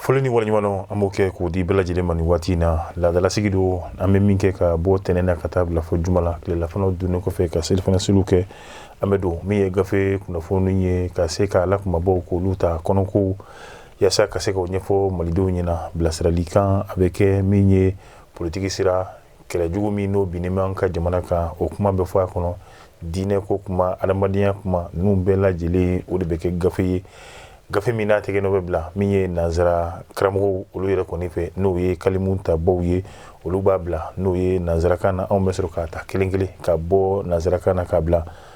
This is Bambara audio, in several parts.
foli ni waleɲumandɔn an b'o kɛ k'o di bɛɛ lajɛlen ma nin waati in na laadalasigi don an bɛ min kɛ ka bɔ tɛnɛn na ka taa bila fo juma la tilelafanaw dunnen kɔfɛ ka selifana seliw kɛ an bɛ don min ye gafe kunnafoni ye ka se ka a la kumabaw k'olu ta kɔnɔkow yaasa ka se k'o ɲɛfɔ malidenw ɲɛna bilasirali kan a bɛ kɛ min ye politiki sira kɛlɛjugu min n'o binnen bɛ an ka jamana kan o kuma bɛ fɔ a kɔnɔ diinɛ ko kuma adamadenya kuma ninnu bɛɛ lajɛlen o de bɛ kɛ gafe ye gafe min n'a tɛgɛ n'o bɛ bila min ye nansara karamɔgɔw olu yɛrɛ kɔni fɛ n'o ye kalimu tabaw ye olu b'a bila n'o ye nansarakan na anw bɛ sɔrɔ k'a ta kelenkelen ka bɔ nansarakan na k'a bila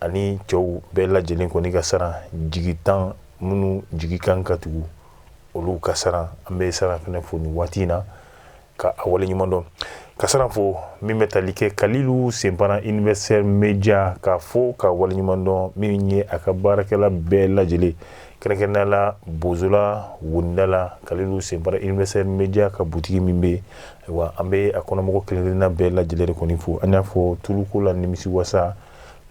ani cɛw bɛɛ lajɛlen kɔni ka saran jigitan minnu jigi kan ka tugu olu ka saran an bɛ saran fana fo nin waati in na ka a waleɲumandɔn ka saran fo min bɛ tali kɛ kalilu senpara universel media ka fo ka waleɲumandɔn min ye a ka baarakɛla bɛɛ lajɛlen kɛrɛnkɛrɛnnenya la bozola wonida la kalilu senpara universel media ka butigi min bɛ wa an bɛ a kɔnɔmɔgɔ kelenkelenna bɛɛ lajɛlen de kɔni fo an y'a fɔ tuluko la nimisi wasa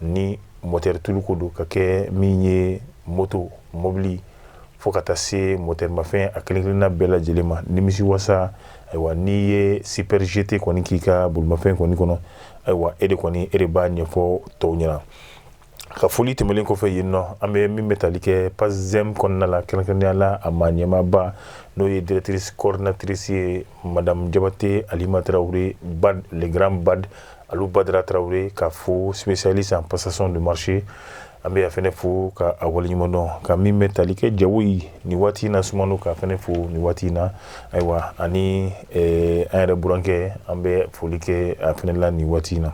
ni moteri tuluko don ka kɛ min ye moto mɔbili fo ka taa se moteri mafɛn a kelenkelenna bɛɛ lajɛlen ma nimisi wasa ayiwa n'i ye super GT kɔni k'i ka bolimafɛn kɔni kɔnɔ ayiwa e de kɔni e de b'a ɲɛfɔ tɔw ɲɛna ka foli tɛmɛnen kɔfɛ yen nɔ an bɛ min bɛ tali kɛ PACEM kɔnɔna la kɛrɛnkɛrɛnya la a maa ɲɛmaaba n'o ye directrice coordinatrice ye madamu jabate alima tarawele BAD le grand BAD Alu badara tarawele ka fo spécialiste en passation de marché an bɛ a fana fo ka a waleɲumandɔn ka min bɛ tali kɛ jago ye nin waati in na sumaworo ka fana fo nin waati in na ayiwa ani an yɛrɛ burankɛ an bɛ foli kɛ a fana la nin waati in na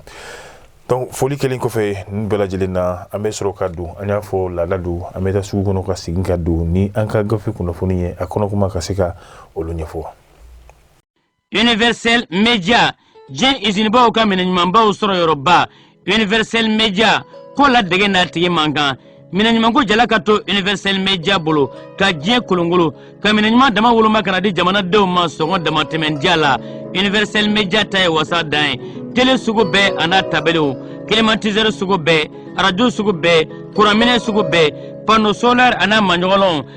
dɔnku foli kɛlen kɔfɛ nin bɛɛ lajɛlen na an bɛ sɔrɔ ka don an y'a fɔ laada don an bɛ taa sugu kɔnɔ ka segin ka don ni an ka gafe kunnafoni ye a kɔnɔ kuma ka se ka olu ɲɛfɔ universel media diɲɛ izinibaw ka minɛ ɲumanbaw sɔrɔ yɔrɔba universel media ko ladege n'a tigi man kan minɛ ɲumanko jala ka to universel media bolo ka diɲɛ kolongolo ka minɛ ɲuman dama woloma ka na di jamanadenw ma sɔngɔ damatɛmɛ diya la universel media ta ye wasa dan ye tele sugu bɛɛ a n'a tabaliw climatiseur sugu bɛɛ arajo sugu bɛɛ kuranminɛ sugu bɛɛ panneau solaire a n'a maɲɔgɔnlɔnw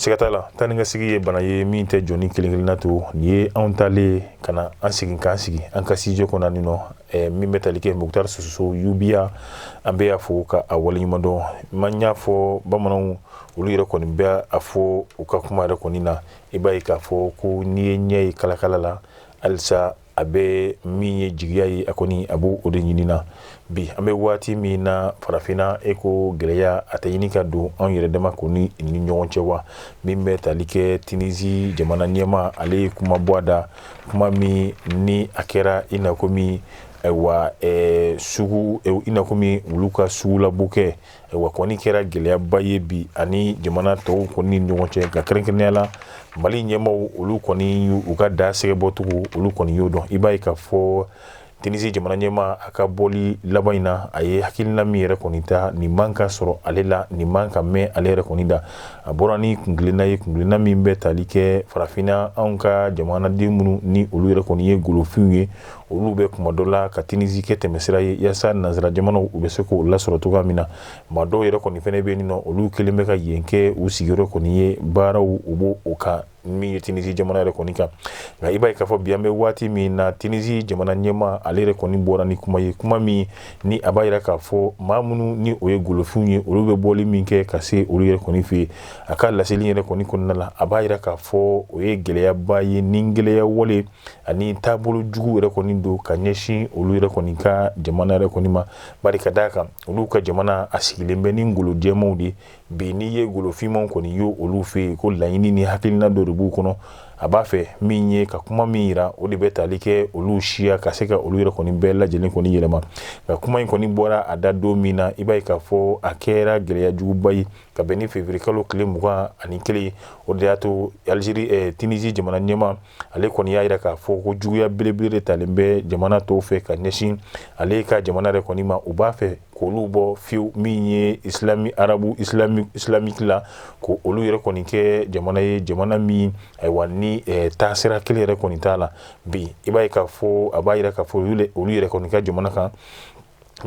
siga t'a la taa ni ka segin ye bana ye min tɛ jɔni kelen kelenna to nin ye anw taalen ka na an segin k'an sigi an ka siège kɔnɔ nin nɔ eh, min bɛ tali kɛ mukutar sososo yubiya an bɛ y'a fo ka a waleɲumandɔn man y'a fɔ bamananw olu yɛrɛ kɔni bɛ a fɔ u ka kuma yɛrɛ kɔni na i b'a ye k'a fɔ ko n'i ye ɲɛ ye kalakala la halisa a bɛ min ye jigiya ye a kɔni a b'o de ɲini na bi an bɛ waati min na farafinna e ko gɛlɛya a tɛ ɲini ka don anw yɛrɛ dama kɔni ni ɲɔgɔn cɛ wa min bɛ tali kɛ tinisi jamana ɲɛma ale ye kuma bɔ a da kuma min ni a kɛra i na komi ayiwa sugu i na komi olu ka sugu labɔ kɛ Wa kɔni kɛra gɛlɛyaba ye bi ani jamana tɔw kɔni ni ɲɔgɔn cɛ ka kɛrɛnkɛrɛnnenya la mali ɲɛmaaw olu kɔni u ka da sɛgɛ bɔcogo olu kɔni y'o dɔn i b'a ye k'a fɔ tinisi jamana ɲɛma a ka bɔli laban in na a ye hakilina min yɛrɛ kɔni ta nin man ka sɔrɔ ale la nin man ka mɛn ale yɛrɛ kɔni da a bɔra ni kuntilenna ye kuntilenna min bɛ tali kɛ farafinna anw ka jamanaden minnu ni olu yɛrɛ kɔni ye golofinw ye olu bɛ kuma dɔ la ka tinisi kɛ tɛmɛsira ye yaasa nansara jamanaw u bɛ se k'o lasɔrɔ cogoya min na maa dɔw yɛrɛ kɔni fana bɛ yen n'olu kɛlen bɛ ka yen kɛ u sigiyɔrɔ kɔni ye baaraw u b'u kan min ye tinisi jamana yɛrɛ kɔni kan nka i b'a ye k'a fɔ bi an bɛ waati min na tinisi jamana ɲɛma ale yɛrɛ kɔni bɔra ni kuma ye kuma min ni a b'a jira k'a fɔ maa minnu ni o ye golofinw ye olu bɛ bɔli min kɛ ka se olu yɛrɛ kɔni fɛ yen a ka laseli yɛrɛ kɔni kɔnɔna la a b'a jira k'a fɔ o ye gɛlɛyaba ye ni gɛlɛya wale ani taabolo jugu yɛrɛ kɔni don ka ɲɛsin olu yɛrɛ kɔni ka jamana yɛrɛ kɔni ma bari ka d'a kan olu ka jamana a sigilen bɛ ni golojɛmanw de bi n'i ye golofinmanw kɔni ye olu fɛ yen ko laɲini ni hakilina dɔ de b'u kɔnɔ a b'a fɛ min ye ka kuma min jira o de bɛ tali kɛ olu siya ka se ka olu yɛrɛ kɔni bɛɛ lajɛlen kɔni yɛlɛma nka kuma in kɔni bɔra a da don min na i b'a ye k'a fɔ a kɛra gɛlɛya juguba ye ka bɛn ni feburuyekalo tile mugan ani kelen o de y'a to alizeri tinisi jamana ɲɛma ale kɔni y'a jira k'a fɔ ko juguya belebele de talen bɛ jamana tɔw fɛ ka ɲɛsin ale ka jamana yɛrɛ kɔni ma u b'a fɛ k'olu bɔ fiyewu min ye isilami arabu isilamiki la ko olu yɛrɛ kɔni kɛ jamana ye jamana min ayiwa ni eh, taasira kelen yɛrɛ kɔni t'a la bi i b'a ye k'a fɔ a b'a jira k'a fɔ olu yɛrɛ kɔni ka jamana kan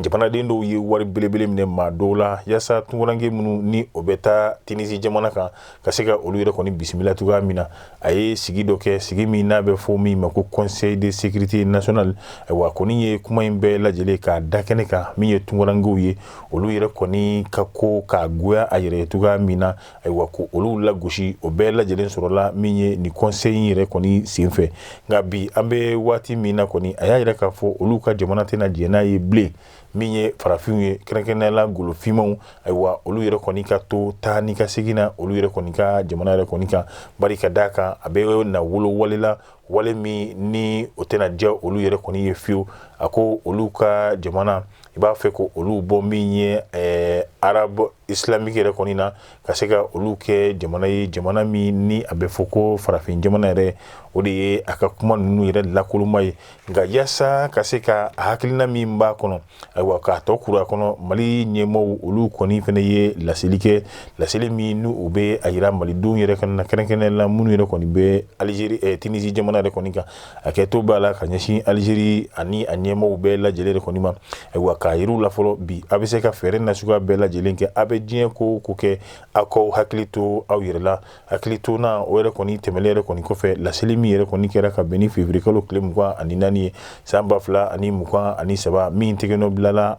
jamanaden dɔw ye wari belebele minɛ maa dɔw la yaasa tunkaranke minnu ni o bɛ taa tinisi jamana kan ka se ka olu yɛrɛ kɔni bisimila cogoya min na a ye sigi dɔ kɛ sigi min n'a bɛ fɔ min ma ko conseil de sécurité nationale ayiwa kɔni ye kuma in bɛɛ lajɛlen k'a da kɛnɛ kan min ye tunkarankew ye olu yɛrɛ kɔni ka ko ka goya a yɛrɛ cogoya min na ayiwa ko olu lagosi o bɛɛ lajɛlen sɔrɔla min ye nin conseil in yɛrɛ kɔni senfɛ nka bi an bɛ waati min na kɔni a y'a yira k'a fɔ olu ka jamana tɛna diɲɛ n'a ye bilen min ye farafinw ye kɛrɛnkɛrɛnnenya la golofinmanw ayiwa olu yɛrɛ kɔni ka to taa ni ka segin na olu yɛrɛ kɔni ka jamana yɛrɛ kɔni kan bari ka d'a kan a bɛ na wolo wale la wale min ni o tɛna diya olu yɛrɛ kɔni ye fiyewu a ko olu ka jamana i b'a fɛ ko olu bɔ min ye eh, arabe islamique yɛrɛ kɔni na ka se ka olu kɛ jamana ye jamana min ni a bɛ fɔ ko farafin jamana yɛrɛ o de ye a ka kuma ninnu yɛrɛ lakoloma ye nka yaasa ka se ka hakilina min b'a kɔnɔ ayiwa k'a tɔ kuru a kɔnɔ mali ɲɛmaaw olu kɔni fana ye laseli kɛ laseli min ni o bɛ a jira malidenw yɛrɛ kɔni na kɛrɛnkɛrɛnnenya la minnu yɛrɛ kɔni bɛ alizeri tunizi jamana yɛrɛ kɔni kan hakɛto b'a la ka ɲɛsin alizeri ani a ɲɛmaaw bɛɛ lajɛlen kɔni ma ayiwa k'a yira u la fɔlɔ bi a bɛ se ka fɛɛrɛ nasuguya bɛɛ lajɛlen kɛ a bɛ diɲɛ ko ko kɛ aw k'aw hakili to aw yɛrɛ la hakili to na o yɛrɛ kɔni tɛmɛnen yɛrɛ kɔni kɔfɛ laseli min yɛrɛ kɔni kɛra ka bɛn ni février kalo tile mugan ani naani ye san ba fila ani mugan ani saba min tɛgɛnɔ bilala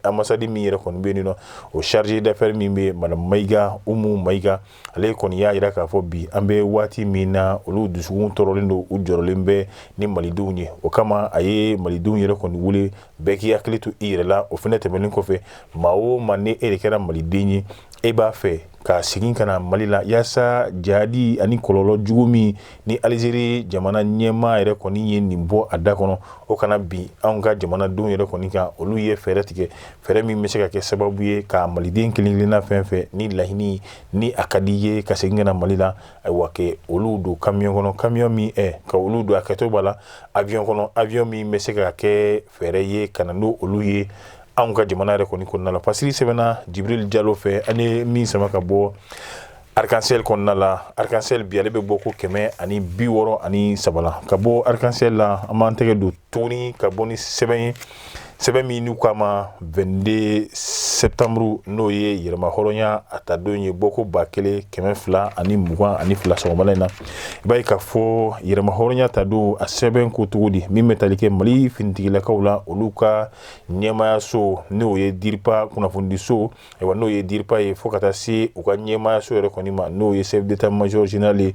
ambassade min yɛrɛ kɔni bɛ yen nɔ o chargé d'affaires min bɛ madame mayiga umu mayiga ale kɔni y'a jira k'a fɔ bi an bɛ waati min na olu dusukun tɔɔrɔlen don u jɔrɔlen bɛ ni malidenw ye o kama a ye malidenw yɛrɛ kɔni wele bɛɛ k'i hakili to i yɛrɛ la o fana tɛmɛnen kɔfɛ maa o maa ni e de kɛra maliden ye e b'a fɛ ka segin ka na mali la yaasa jadi ani kɔlɔlɔ jugu min ni alizeri jamana ɲɛmaa yɛrɛ kɔni ye nin bɔ a da kɔnɔ o kana bin an ka jamanadenw yɛrɛ kɔni kan olu ye fɛɛrɛ tigɛ fɛɛrɛ min bɛ se ka kɛ sababu ye ka maliden kelen-kelenna fɛn fɛn ni laɲini ni a ka di ye ka segin ka na mali la ayiwa ka olu don kamiyon kɔnɔ kamiyon min eh, ka olu don hakɛto b'a la avion kɔnɔ avion min bɛ se ka kɛ fɛɛrɛ ye ka na n'o olu ye anw ka jamana yɛrɛ kɔni kɔnɔna la pasiri sɛbɛnna jibril jalo fɛ ani min sama ka bɔ arc-en-ciel kɔnɔna la arc-en-ciel bi ale bɛ bɔko kɛmɛ ani bi wɔɔrɔ ani saba la ka bɔ arc-en-ciel la an b'an tɛgɛ don tuguni ka bɔ ni sɛbɛn ye sɛbɛn min n'u k'a ma 22 septembre n'o ye yɛrɛmahɔrɔnya ta don ye bɔko ba kelen kɛmɛ fila ani mugan ani fila sɔgɔmada in na i b'a ye k'a fɔ yɛrɛmahɔrɔnya ta don a sɛbɛn ko cogo di min bɛ tali kɛ mali finitigilakaw la olu ka ɲɛmayaso n'o ye DIRPA kunnafonidiso Ayiwa n'o ye DIRPA ye fo ka taa se u ka ɲɛmaayaso yɛrɛ kɔni ma n'o ye chef d'état-major général ye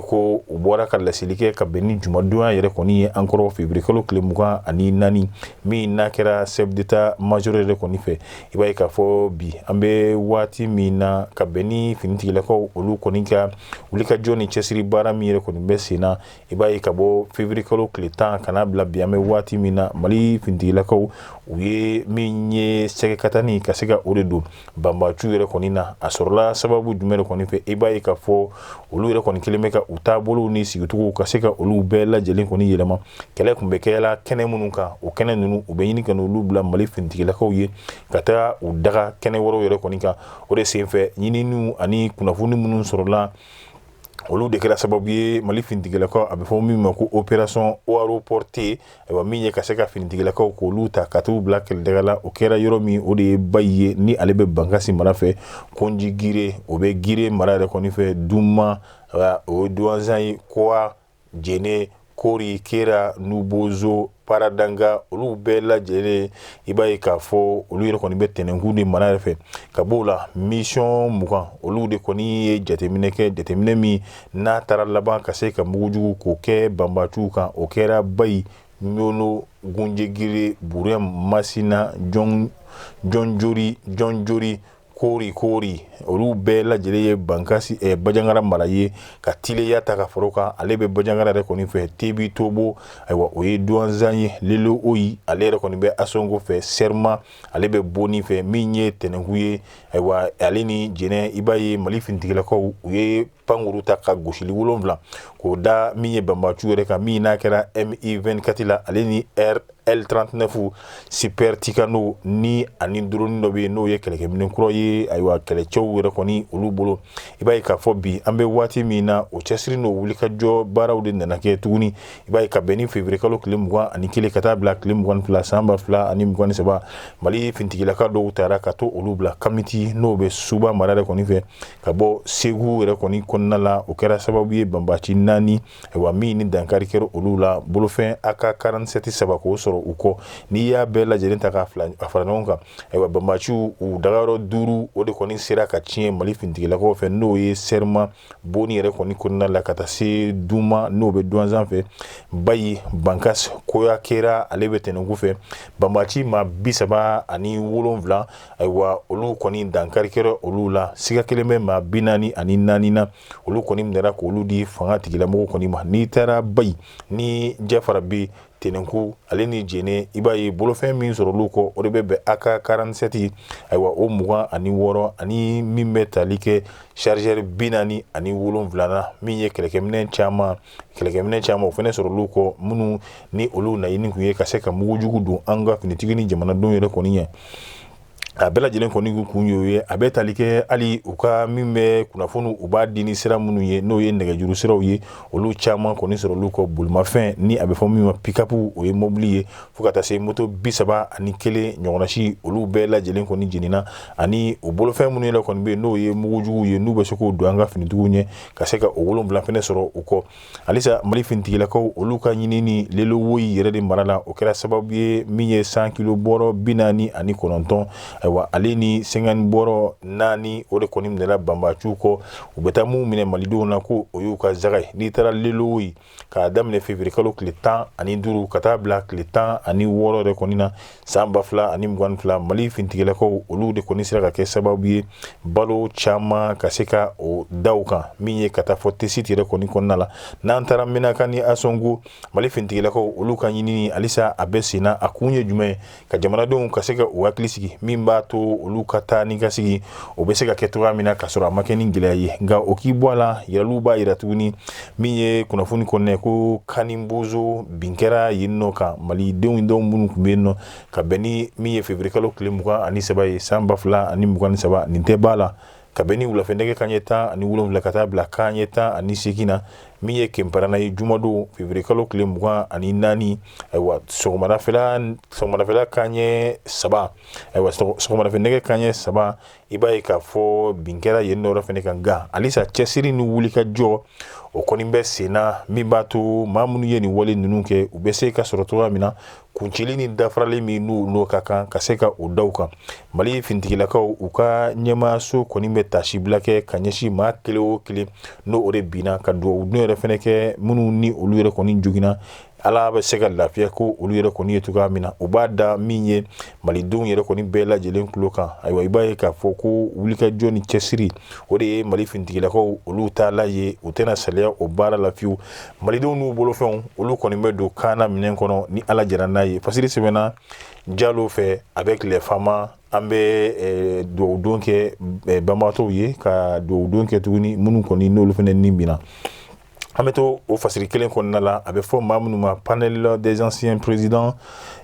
ko u bɔra ka laseli kɛ ka bɛn ni jumadonya yɛrɛ kɔni ye an kɔrɔ février kalo tile mugan ani naani min n'a kɛra chef d'état-major yɛrɛ kɔni fɛ i b'a ye k'a fɔ bi an bɛ waati min na ka bɛn ni finitigilakaw olu kɔni ka wulikajɔ ni cɛsiri baara min yɛrɛ kɔni bɛ sen na i b'a ye ka bɔ février kalo tile tan ka n'a bila bi an bɛ waati min na mali finitigilakaw u ye min ye sɛgɛkatani ka se ka o de don banbaanciw yɛrɛ kɔni na a sɔrɔla sababu jumɛn de kɔni fɛ i b'a ye k'a fɔ olu yɛrɛ kɔni kɛlen bɛ ka u taabolow ni sigicogow ka se ka olu bɛɛ lajɛlen kɔni yɛlɛma kɛlɛ tun bɛ kɛla kɛnɛ minnu kan o kɛnɛ ninnu u bɛ ɲini ka olu bila mali finitigilakaw ye ka taa u daga kɛnɛ wɛrɛw yɛrɛ kɔni kan o de senfɛ ɲininiw ani kunnafoni minnu sɔrɔla olu de kɛra sababu ye mali finitigilakaw a bɛ fɔ min ma ko opération aéroportée ayiwa min ye ka se ka finitigilakaw k'olu ta ka t'u bila kɛlɛdaga la o kɛra yɔrɔ min o de ye bayi ye ni ale bɛ bankasi mara fɛ konji gire o bɛ gire mara yɛrɛ kɔni fɛ duma o ye duwanzan ye kowa jene kori kera nubozo paradanga olu bɛɛ lajɛlen i b'a ye k'a fɔ olu yɛrɛ kɔni bɛ tɛnɛnkun de mara yɛrɛ fɛ ka b'o la mission mugan olu de kɔni ye jateminɛ kɛ jateminɛ min n'a taara laban ka se ka mugujugu k'o kɛ banbaciw kan o kɛra bayi ɲɔno gunjegiri burɛm masina jɔnjori koori koori olu bɛɛ lajɛlen ye bankasi eh, bajangara mara ye ka tileya ta ka fara o kan ale bɛ bajangara yɛrɛ kɔni fɛ tebi tobo ayiwa o ye duwanzan ye lelo oyi ale yɛrɛ kɔni bɛ asongo fɛ sɛrima ale bɛ boni fɛ min ye tɛnɛnku ye ayiwa ale ni jɛnɛ i b'a ye mali finitigilakaw u ye pankuru ta ka gosili wolonwula k'o da min ye banbaciw yɛrɛ kan min n'a kɛra mi24 la ale ni l39 super tucano ni ani drone dɔ bɛ yen n'o ye kɛlɛkɛminɛ kura ye ayiwa kɛlɛcɛw yɛrɛ kɔni olu bolo i b'a ye k'a fɔ bi an bɛ waati min na o cɛsiri n'o wulikajɔ baaraw de nana kɛ tuguni i b'a ye ka bɛn ni février kalo tile mugan ani kelen ka taa bila tile mugan ni fila san ba fila ani mugan ni saba mali finitigilaka dɔw taara ka to olu bila kamiti n'o bɛ suba mara de kɔni fɛ ka bɔ segu yɛrɛ kɔni kɔnɔna la o kɛra sababu ye banbaci naani ayiwa min ni dankari kɛra olu la bolofɛn ak47 saba k'o sɔrɔ u kɔ n'i y'a bɛɛ lajɛlen ta k'a fara ɲɔgɔn kan ayiwa banbaciw dagayɔrɔ duuru o de kɔni sera ka tiɲɛ mali finitigilakaw fɛ n'o ye serima boni yɛrɛ kɔni kɔnɔna la ka taa se duma n'o bɛ duwanzan fɛ bayi bankasi koya kera ale bɛ tɛnɛnku fɛ banbaci maa bi saba ani wolonwula ayiwa olu kɔni dankari kɛra olu la siga kɛlen bɛ maa bi naani ani naani na olu kɔni minɛra k'olu di fangatigilamɔgɔw kɔni ma n'i taara bayi ni jafarabɛ tɛnɛnku ale ni jɛnɛ i b'a ye bolofɛn min sɔrɔ olu kɔ o de bɛ bɛn ak47 ayiwa o mugan ani wɔɔrɔ ani min bɛ tali kɛ chargeur bi naani ani wolonwula na min ye kɛlɛkɛminɛ caman kɛlɛkɛminɛ caman o fana sɔrɔ olu kɔ minnu ni olu naɲini tun ye ka se ka mugujugu don an ka finitigi ni jamanadenw yɛrɛ kɔni ɲɛ a bɛɛ lajɛlen kɔni kun y'o ye a bɛ tali kɛ hali u ka min bɛ kunnafoni u b'a di ni sira minnu ye n'o ye nɛgɛjuru siraw ye olu caman kɔni sɔrɔ olu kɔ bolimafɛn ni a bɛ fɔ min ma pick-up o ye mɔbili ye fo ka taa se moto bi saba ani kelen ɲɔgɔn si olu bɛɛ lajɛlen kɔni jenina ani u bolofɛn minnu yɛrɛ kɔni bɛ yen n'o ye mugujugu ye n'u bɛ se k'u don an ka finitigi ɲɛ ka se ka o wolonwula fɛnɛ sɔrɔ u kɔ halisa mali fintigilakaw olu ka ɲinini lelo woyi yɛrɛ de mara la o kɛra sababu ye min ye cent kilo bɔrɔ bi naani ani kɔnɔntɔn ayiwa ale ni cinquante bɔrɔ naani o de kɔni minɛla banbaciw kɔ u bɛ taa minnu minɛ malidenw na ko o y'u ka zaga ye n'i taara lelo woyi k'a daminɛ février kalo tile tan ani duuru ka taa bila tile tan ani wɔɔrɔ yɛrɛ kɔni na san ba fila ani mugan ni fila mali fintigilakaw olu de kɔni sera ka kɛ sababu ye balo caman ka se ka o da u kan min ye ka taa fɔ tesit yɛrɛ kɔni kɔnɔna la n'an taara menaka ni asongo mali fintigilakaw olu ka ɲinini halisa a bɛ senna a kun ye jumɛn ye ka jamanadenw ka se ka u hakili sigi min b'a to olu ka taa ni ka segin o bɛ se ka kɛ cogoya min na k'a sɔrɔ a ma kɛ ni gɛlɛya ye nka o k'i bɔ a la yiraliw b'a yira tuguni min ye kunnafoni kɔnɔna ko kani bonzon bin kɛra yen nɔ kan malidenw dɔw minnu tun bɛ yen nɔ ka bɛn ni min ye février kalo tile mugan ani saba ye san ba fila ani mugan ni saba nin tɛ b'a la ka bɛn ni wulafɛ nɛgɛ kan ɲɛ tan ani wolonwula ka taa bila kan ɲɛ tan ani seegin na min ye kenparana ye jumadon février kalo tile mugan ani naani ayiwa sɔgɔmarafɛla kan ɲɛ saba ayiwa sɔgɔmarafɛ nɛgɛ kan ɲɛ saba i b'a ye k'a fɔ bin kɛra yen nɔ fɛnɛ kan nka halisa cɛsiri ni wulikajɔ o kɔni bɛ senna min b'a to maa minnu ye nin wale ninnu kɛ u bɛ se ka sɔrɔ cogoya min na kuncili ni dafarali min n'o ka kan ka se ka o da u kan mali fintigilakaw u ka ɲɛmaaso kɔni bɛ tasibila kɛ ka ɲɛsin maa kelen o kelen n'o de binna ka dugawudon yɛrɛ fɛnɛ kɛ minnu ni olu yɛrɛ kɔni joginna ala bɛ se ka lafiya k'olu yɛrɛ kɔni ye cogoya min na u b'a da min ye malidenw yɛrɛ kɔni bɛɛ lajɛlen tulo kan ayiwa i b'a ye k'a fɔ ko wulikajɔ ni cɛsiri o de ye mali fintigilakaw olu taalan ye u tɛna saliya o baara la fiyewu malidenw n'u bolofɛnw olu kɔni bɛ don kana minɛn kɔnɔ ni ala jɛra n'a ye fasiri sɛbɛnna jalo fɛ avec les fama an bɛ eh, dugawudon kɛ eh, banabagatɔw ye ka dugawudon kɛ tuguni minnu kɔni n'olu fɛnɛ ni binna an bɛ to o fasiri kelen kɔnɔna la a bɛ fɔ maa minnu ma panel des anciens présidents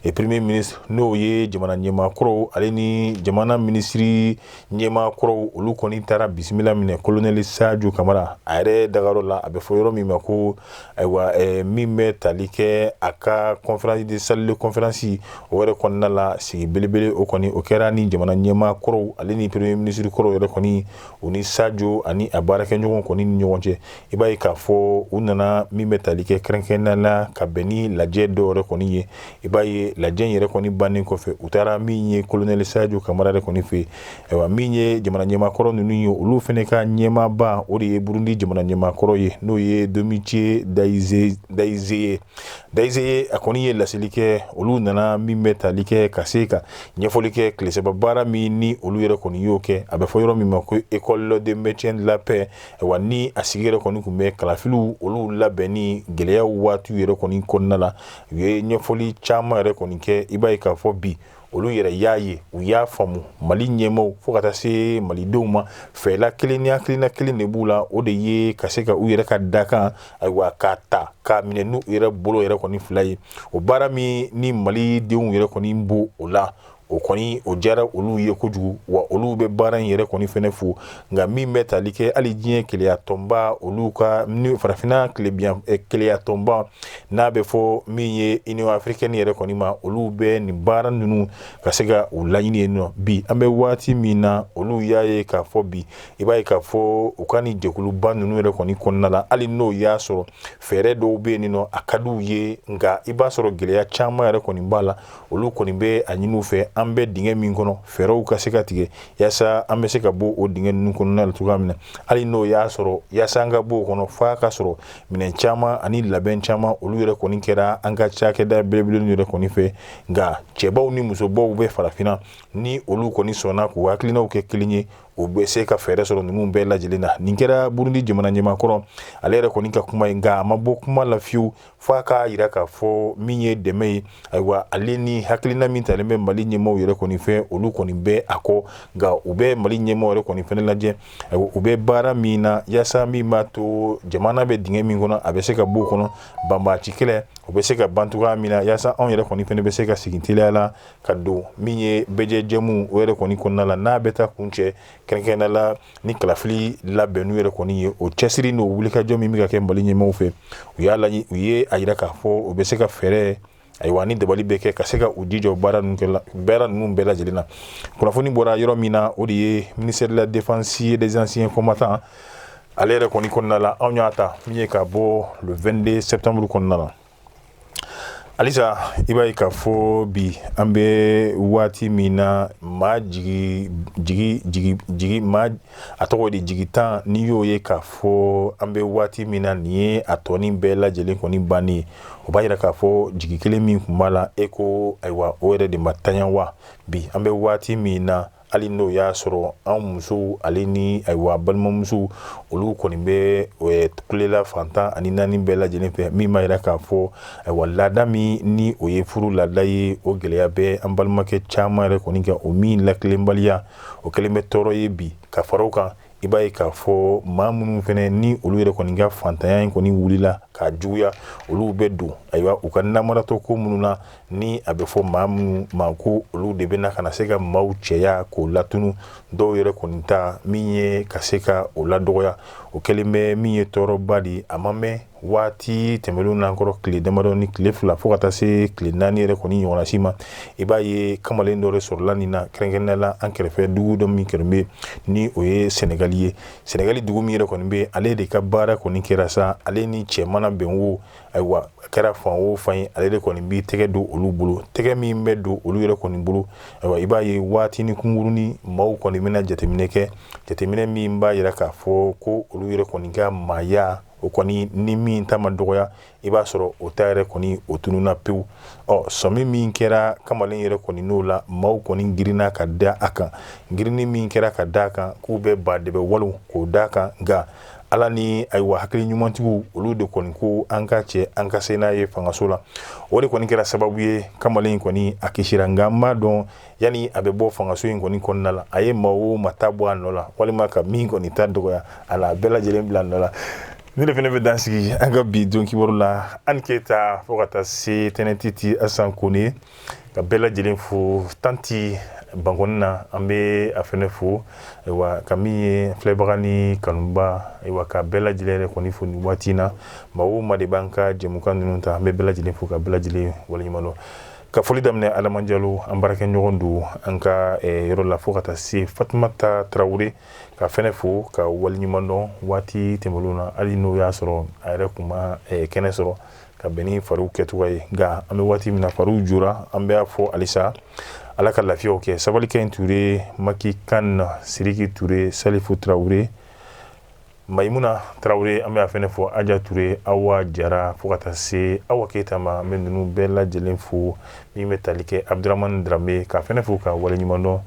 et premier ministre n'o ye jamana ɲɛmaa kɔrɔw ale ni jamana minisiri ɲɛmaa kɔrɔw olu kɔni taara bisimila minɛ kolonɛli sajo kamara a yɛrɛ dagayɔrɔ la a bɛ fɔ yɔrɔ min ma ko ayiwa eh, min bɛ tali kɛ a ka conférence de salle de conférence o yɛrɛ kɔnɔna la sigi belebele o kɔni o kɛra ni jamana ɲɛmaa kɔrɔw ale ni premier minisiri kɔrɔw yɛrɛ kɔni u ni sajo ani a baarakɛɲɔgɔn kɔni ni ɲɔgɔn cɛ i b'a ye k'a fɔ u nana min bɛ tali kɛ kɛrɛnkɛrɛnnenya la ka bɛn ni lajɛ dɔw yɛrɛ kɔni ye i b'a ye lajɛ in yɛrɛ kɔni bannen kɔfɛ u taara min ye kolonɛli sajo kamara yɛrɛ kɔni fɛ ayiwa min ye jamana ɲɛmaakɔrɔ ninnu ye olu fɛnɛ ka ɲɛmaaba o de ye burundi jamana ɲɛmaakɔrɔ ye n'o ye domitien ndayize ndayizeye ndayizeye a kɔni ye laseli kɛ olu nana min bɛ tali kɛ ka se ka ɲɛfɔli kɛ tile saba baara min ni olu yɛrɛ kɔni y'o kɛ a bɛ fɔ yɔrɔ min ma ko école de maintien de la wa ni a sigi yɛrɛ kɔni tun bɛ kalafiliw olu labɛnni gɛlɛyaw waatiw yɛrɛ kɔni kɔnɔna la u ye ɲɛfɔli caman yɛrɛ kɔni kɛ i b'a ye k'a fɔ bi olu yɛrɛ y'a ye u y'a faamu mali ɲɛmaaw fo ka taa se malidenw ma fɛla kelen ni hakilina kelen de b'u la o de ye ka se ka u yɛrɛ ka dakan ayiwa k'a ta k'a minɛ n'u yɛrɛ bolo yɛrɛ kɔni fila ye o baara min ni malidenw yɛrɛ kɔni bo o la o kɔni o diyara olu ye kojugu wa olu bɛ baara in yɛrɛ kɔni fɛnɛ fo nka min bɛ tali kɛ hali diɲɛ kelenyatɔnba olu ka farafinna kelenyatɔnba n'a bɛ fɔ min ye union africaine yɛrɛ kɔni ma olu bɛ nin baara ninnu ka se ka u laɲini yen nɔ bi an bɛ waati min na olu y'a ye k'a fɔ bi i b'a ye k'a fɔ u ka ni jɛkuluba ninnu yɛrɛ kɔni kɔnɔna la hali n'o y'a sɔrɔ fɛɛrɛ dɔw bɛ yen nɔ a ka di u ye nka i b'a sɔrɔ gɛlɛya caman yɛrɛ kɔni b'a la olu kɔni bɛ a ɲini u fɛ an bɛ dingɛ min kɔnɔ fɛɛrɛw ka se ka tigɛ yaasa an bɛ se ka bɔ o dingɛ ninnu kɔnɔna la cogoya min na hali n'o y'a sɔrɔ yaasa an ka bɔ o kɔnɔ f'a ka sɔrɔ minɛn caman ani labɛn caman olu yɛrɛ kɔni kɛra an ka cakɛda belebele yɛrɛ kɔni fɛ nka cɛbaw ni musobaw bɛ farafinna ni olu kɔni sɔnna k'u hakilinaw kɛ kelen ye u bɛ se ka fɛɛrɛ sɔrɔ ninnu bɛɛ lajɛlen na nin kɛra burundi jamana ɲɛmaakɔrɔ ale yɛrɛ kɔni ka kuma ye nka a ma bɔ kuma la fiyewu fo a k'a yira k'a fɔ min ye dɛmɛ ye ayiwa ale ni hakilina min talen bɛ mali ɲɛmaaw yɛrɛ kɔni fɛ olu kɔni bɛ a kɔ nka u bɛ mali ɲɛmaaw yɛrɛ kɔni fɛnɛ lajɛ ayiwa u bɛ baara min na yaasa min b'a to jamana bɛ dingɛ min kɔnɔ a bɛ se ka bɔ o kɔnɔ banbaaci kɛlɛ o bɛ se ka ban cogoya min na yaasa anw yɛrɛ kɔni fɛnɛ bɛ se ka segin teliya la ka don min ye bɛɛjɛjɛmu o yɛrɛ kɔni kɔnɔna la n'a bɛ taa kuncɛ kɛrɛnkɛrɛnnenya la ni kalafili labɛnniw yɛrɛ kɔni ye o cɛsiri n'o wulikajɔ min bɛ ka kɛ mali ɲɛmaaw fɛ u y'a laɲi u ye a yira k'a fɔ u bɛ se ka fɛɛrɛ ayiwa ni dabali bɛɛ kɛ ka se ka u jijɔ baara ninnu kɛla baara ninnu bɛɛ lajɛlen na kunnafoni bɔra yɔrɔ min na o de ye ministère de la défense et des anciens combattants ale yɛrɛ kɔni kɔnɔna la anw y'a ta min ye ka bɔ le 22 septembre kɔnɔna la halisa i b'a ye k'a fɔ bi an bɛ waati min na maa jigi jigi jigi jigi maa a tɔgɔ de jigi tan n'i y'o ye k'a fɔ an bɛ waati min na nin ye a tɔ nin bɛɛ lajɛlen kɔni bannen ye o b'a yira k'a fɔ jigi kelen min tun b'a la e ko ayiwa o yɛrɛ de ma taɲa wa bi an bɛ waati min na hali n'o y'a sɔrɔ an musow ale ni ayiwa balimamusow olu kɔni bɛ kule la fan tan ani naani bɛɛ lajɛlen fɛ min b'a yira k'a fɔ ayiwa laada min ni o ye furu laada ye o gɛlɛya bɛ an balimakɛ caman yɛrɛ kɔni kan o min latilenbaliya o kɛlen bɛ tɔɔrɔ ye bi ka fara o kan i b'a ye k'a fɔ maa minnu fɛnɛ ni olu yɛrɛ kɔni ka fantanya in kɔni wulila k'a juguya olu bɛ don ayiwa u ka namaratɔ ko minnu na ni a bɛ fɔ maa minnu ma ko olu de bɛna ka na se ka maaw cɛya k'o latunu dɔw yɛrɛ kɔni ta min ye ka se ka o ladɔgɔya o kɛlen bɛ min ye tɔɔrɔba de ye a ma mɛn waati tɛmɛnlen n'an kɔrɔ tile damadɔ ni tile fila fo ka taa se tile naani yɛrɛ kɔni ɲɔgɔnsi ma i b'a ye kamalen dɔ sɔrɔla nin na kɛrɛnkɛrɛnnenya la an kɛrɛfɛ dugu dɔ min kɛrɛn bɛ ni o ye sɛnɛgali ye sɛnɛgali dugu min yɛrɛ kɔni bɛ ale de ka baara kɔni kɛra sa ale ni cɛ mana bɛn wo ayiwa a kɛra fan o fan ye ale de kɔni bɛ tɛgɛ don olu bolo tɛgɛ min bɛ don olu yɛrɛ kɔni bolo ayiwa i b'a ye waati ni kunkurunnin maaw kɔni bɛna jateminɛ kɛ jateminɛ min b'a jira k'a fɔ ko olu yɛrɛ kɔni ka maaya o kɔni ni min ta ma dɔgɔya i b'a sɔrɔ o ta yɛrɛ kɔni o tununna pewu ɔ sɔmi min kɛra kamalen yɛrɛ kɔni n'o la maaw kɔni girinna ka da a kan girinni min kɛra ka da a kan k'u bɛ ba de bɛ walo k'o da a kan nka ala ni ayiwa hakili ɲumantigiw olu de kɔni ko an k'a cɛ an ka se n'a ye fangaso la o de kɔni kɛra sababu ye kamalen kɔni a kisira nka n b'a dɔn yanni a bɛ bɔ fangaso in kɔni kɔnɔna la a ye maa o maa ta bɔ a nɔ la walima ka min kɔni ta dɔgɔya a la a bɛɛ lajɛlen bila a nɔ la ne de fana bɛ dan sigi an ka bi don kibaru la ani keyita fo ka taa se tɛnɛntiti asan kone ka bɛɛ lajɛlen fo tanti bankɔni na an bɛ a fana fo ayiwa ka min ye filɛbaga ni kanubaa ayiwa ka bɛɛ lajɛlen yɛrɛ kɔni fo nin waati in na maa o maa de b'an ka jɛmukan ninnu ta an bɛ bɛɛ lajɛlen fo ka bɛɛ lajɛlen waleɲuman dɔn ka foli daminɛ adama jalo an baarakɛɲɔgɔn don an ka eh, yɔrɔ la fo ka taa se fatumata tarawele k'a fɛnɛ fo k'a waliɲuman dɔn waati tɛmɛlenw na hali n'o y'a sɔrɔ a yɛrɛ kun ma eh, kɛnɛ sɔrɔ ka bɛn ni fariw kɛcogo ye nka an bɛ waati min na fariw jora an bɛ a fo halisa ala ka lafiyaw kɛ sabalikaɲi ture maki kan siriki ture salifu tarawele mayimuna tarawele an bɛ a fɛnɛ fo aja ture awa jara fo ka taa se awa keyita ma an bɛ ninnu bɛɛ lajɛlen fo min bɛ tali kɛ abdramani drame k'a fɛnɛ fo k'a waleɲuman dɔn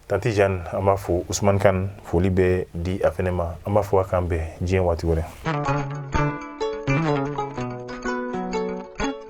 tanti jeanne an b'a fo usumani kan foli bɛ di a fɛnɛ ma an b'a fɔ a k'an bɛn diɲɛ waati wɛrɛ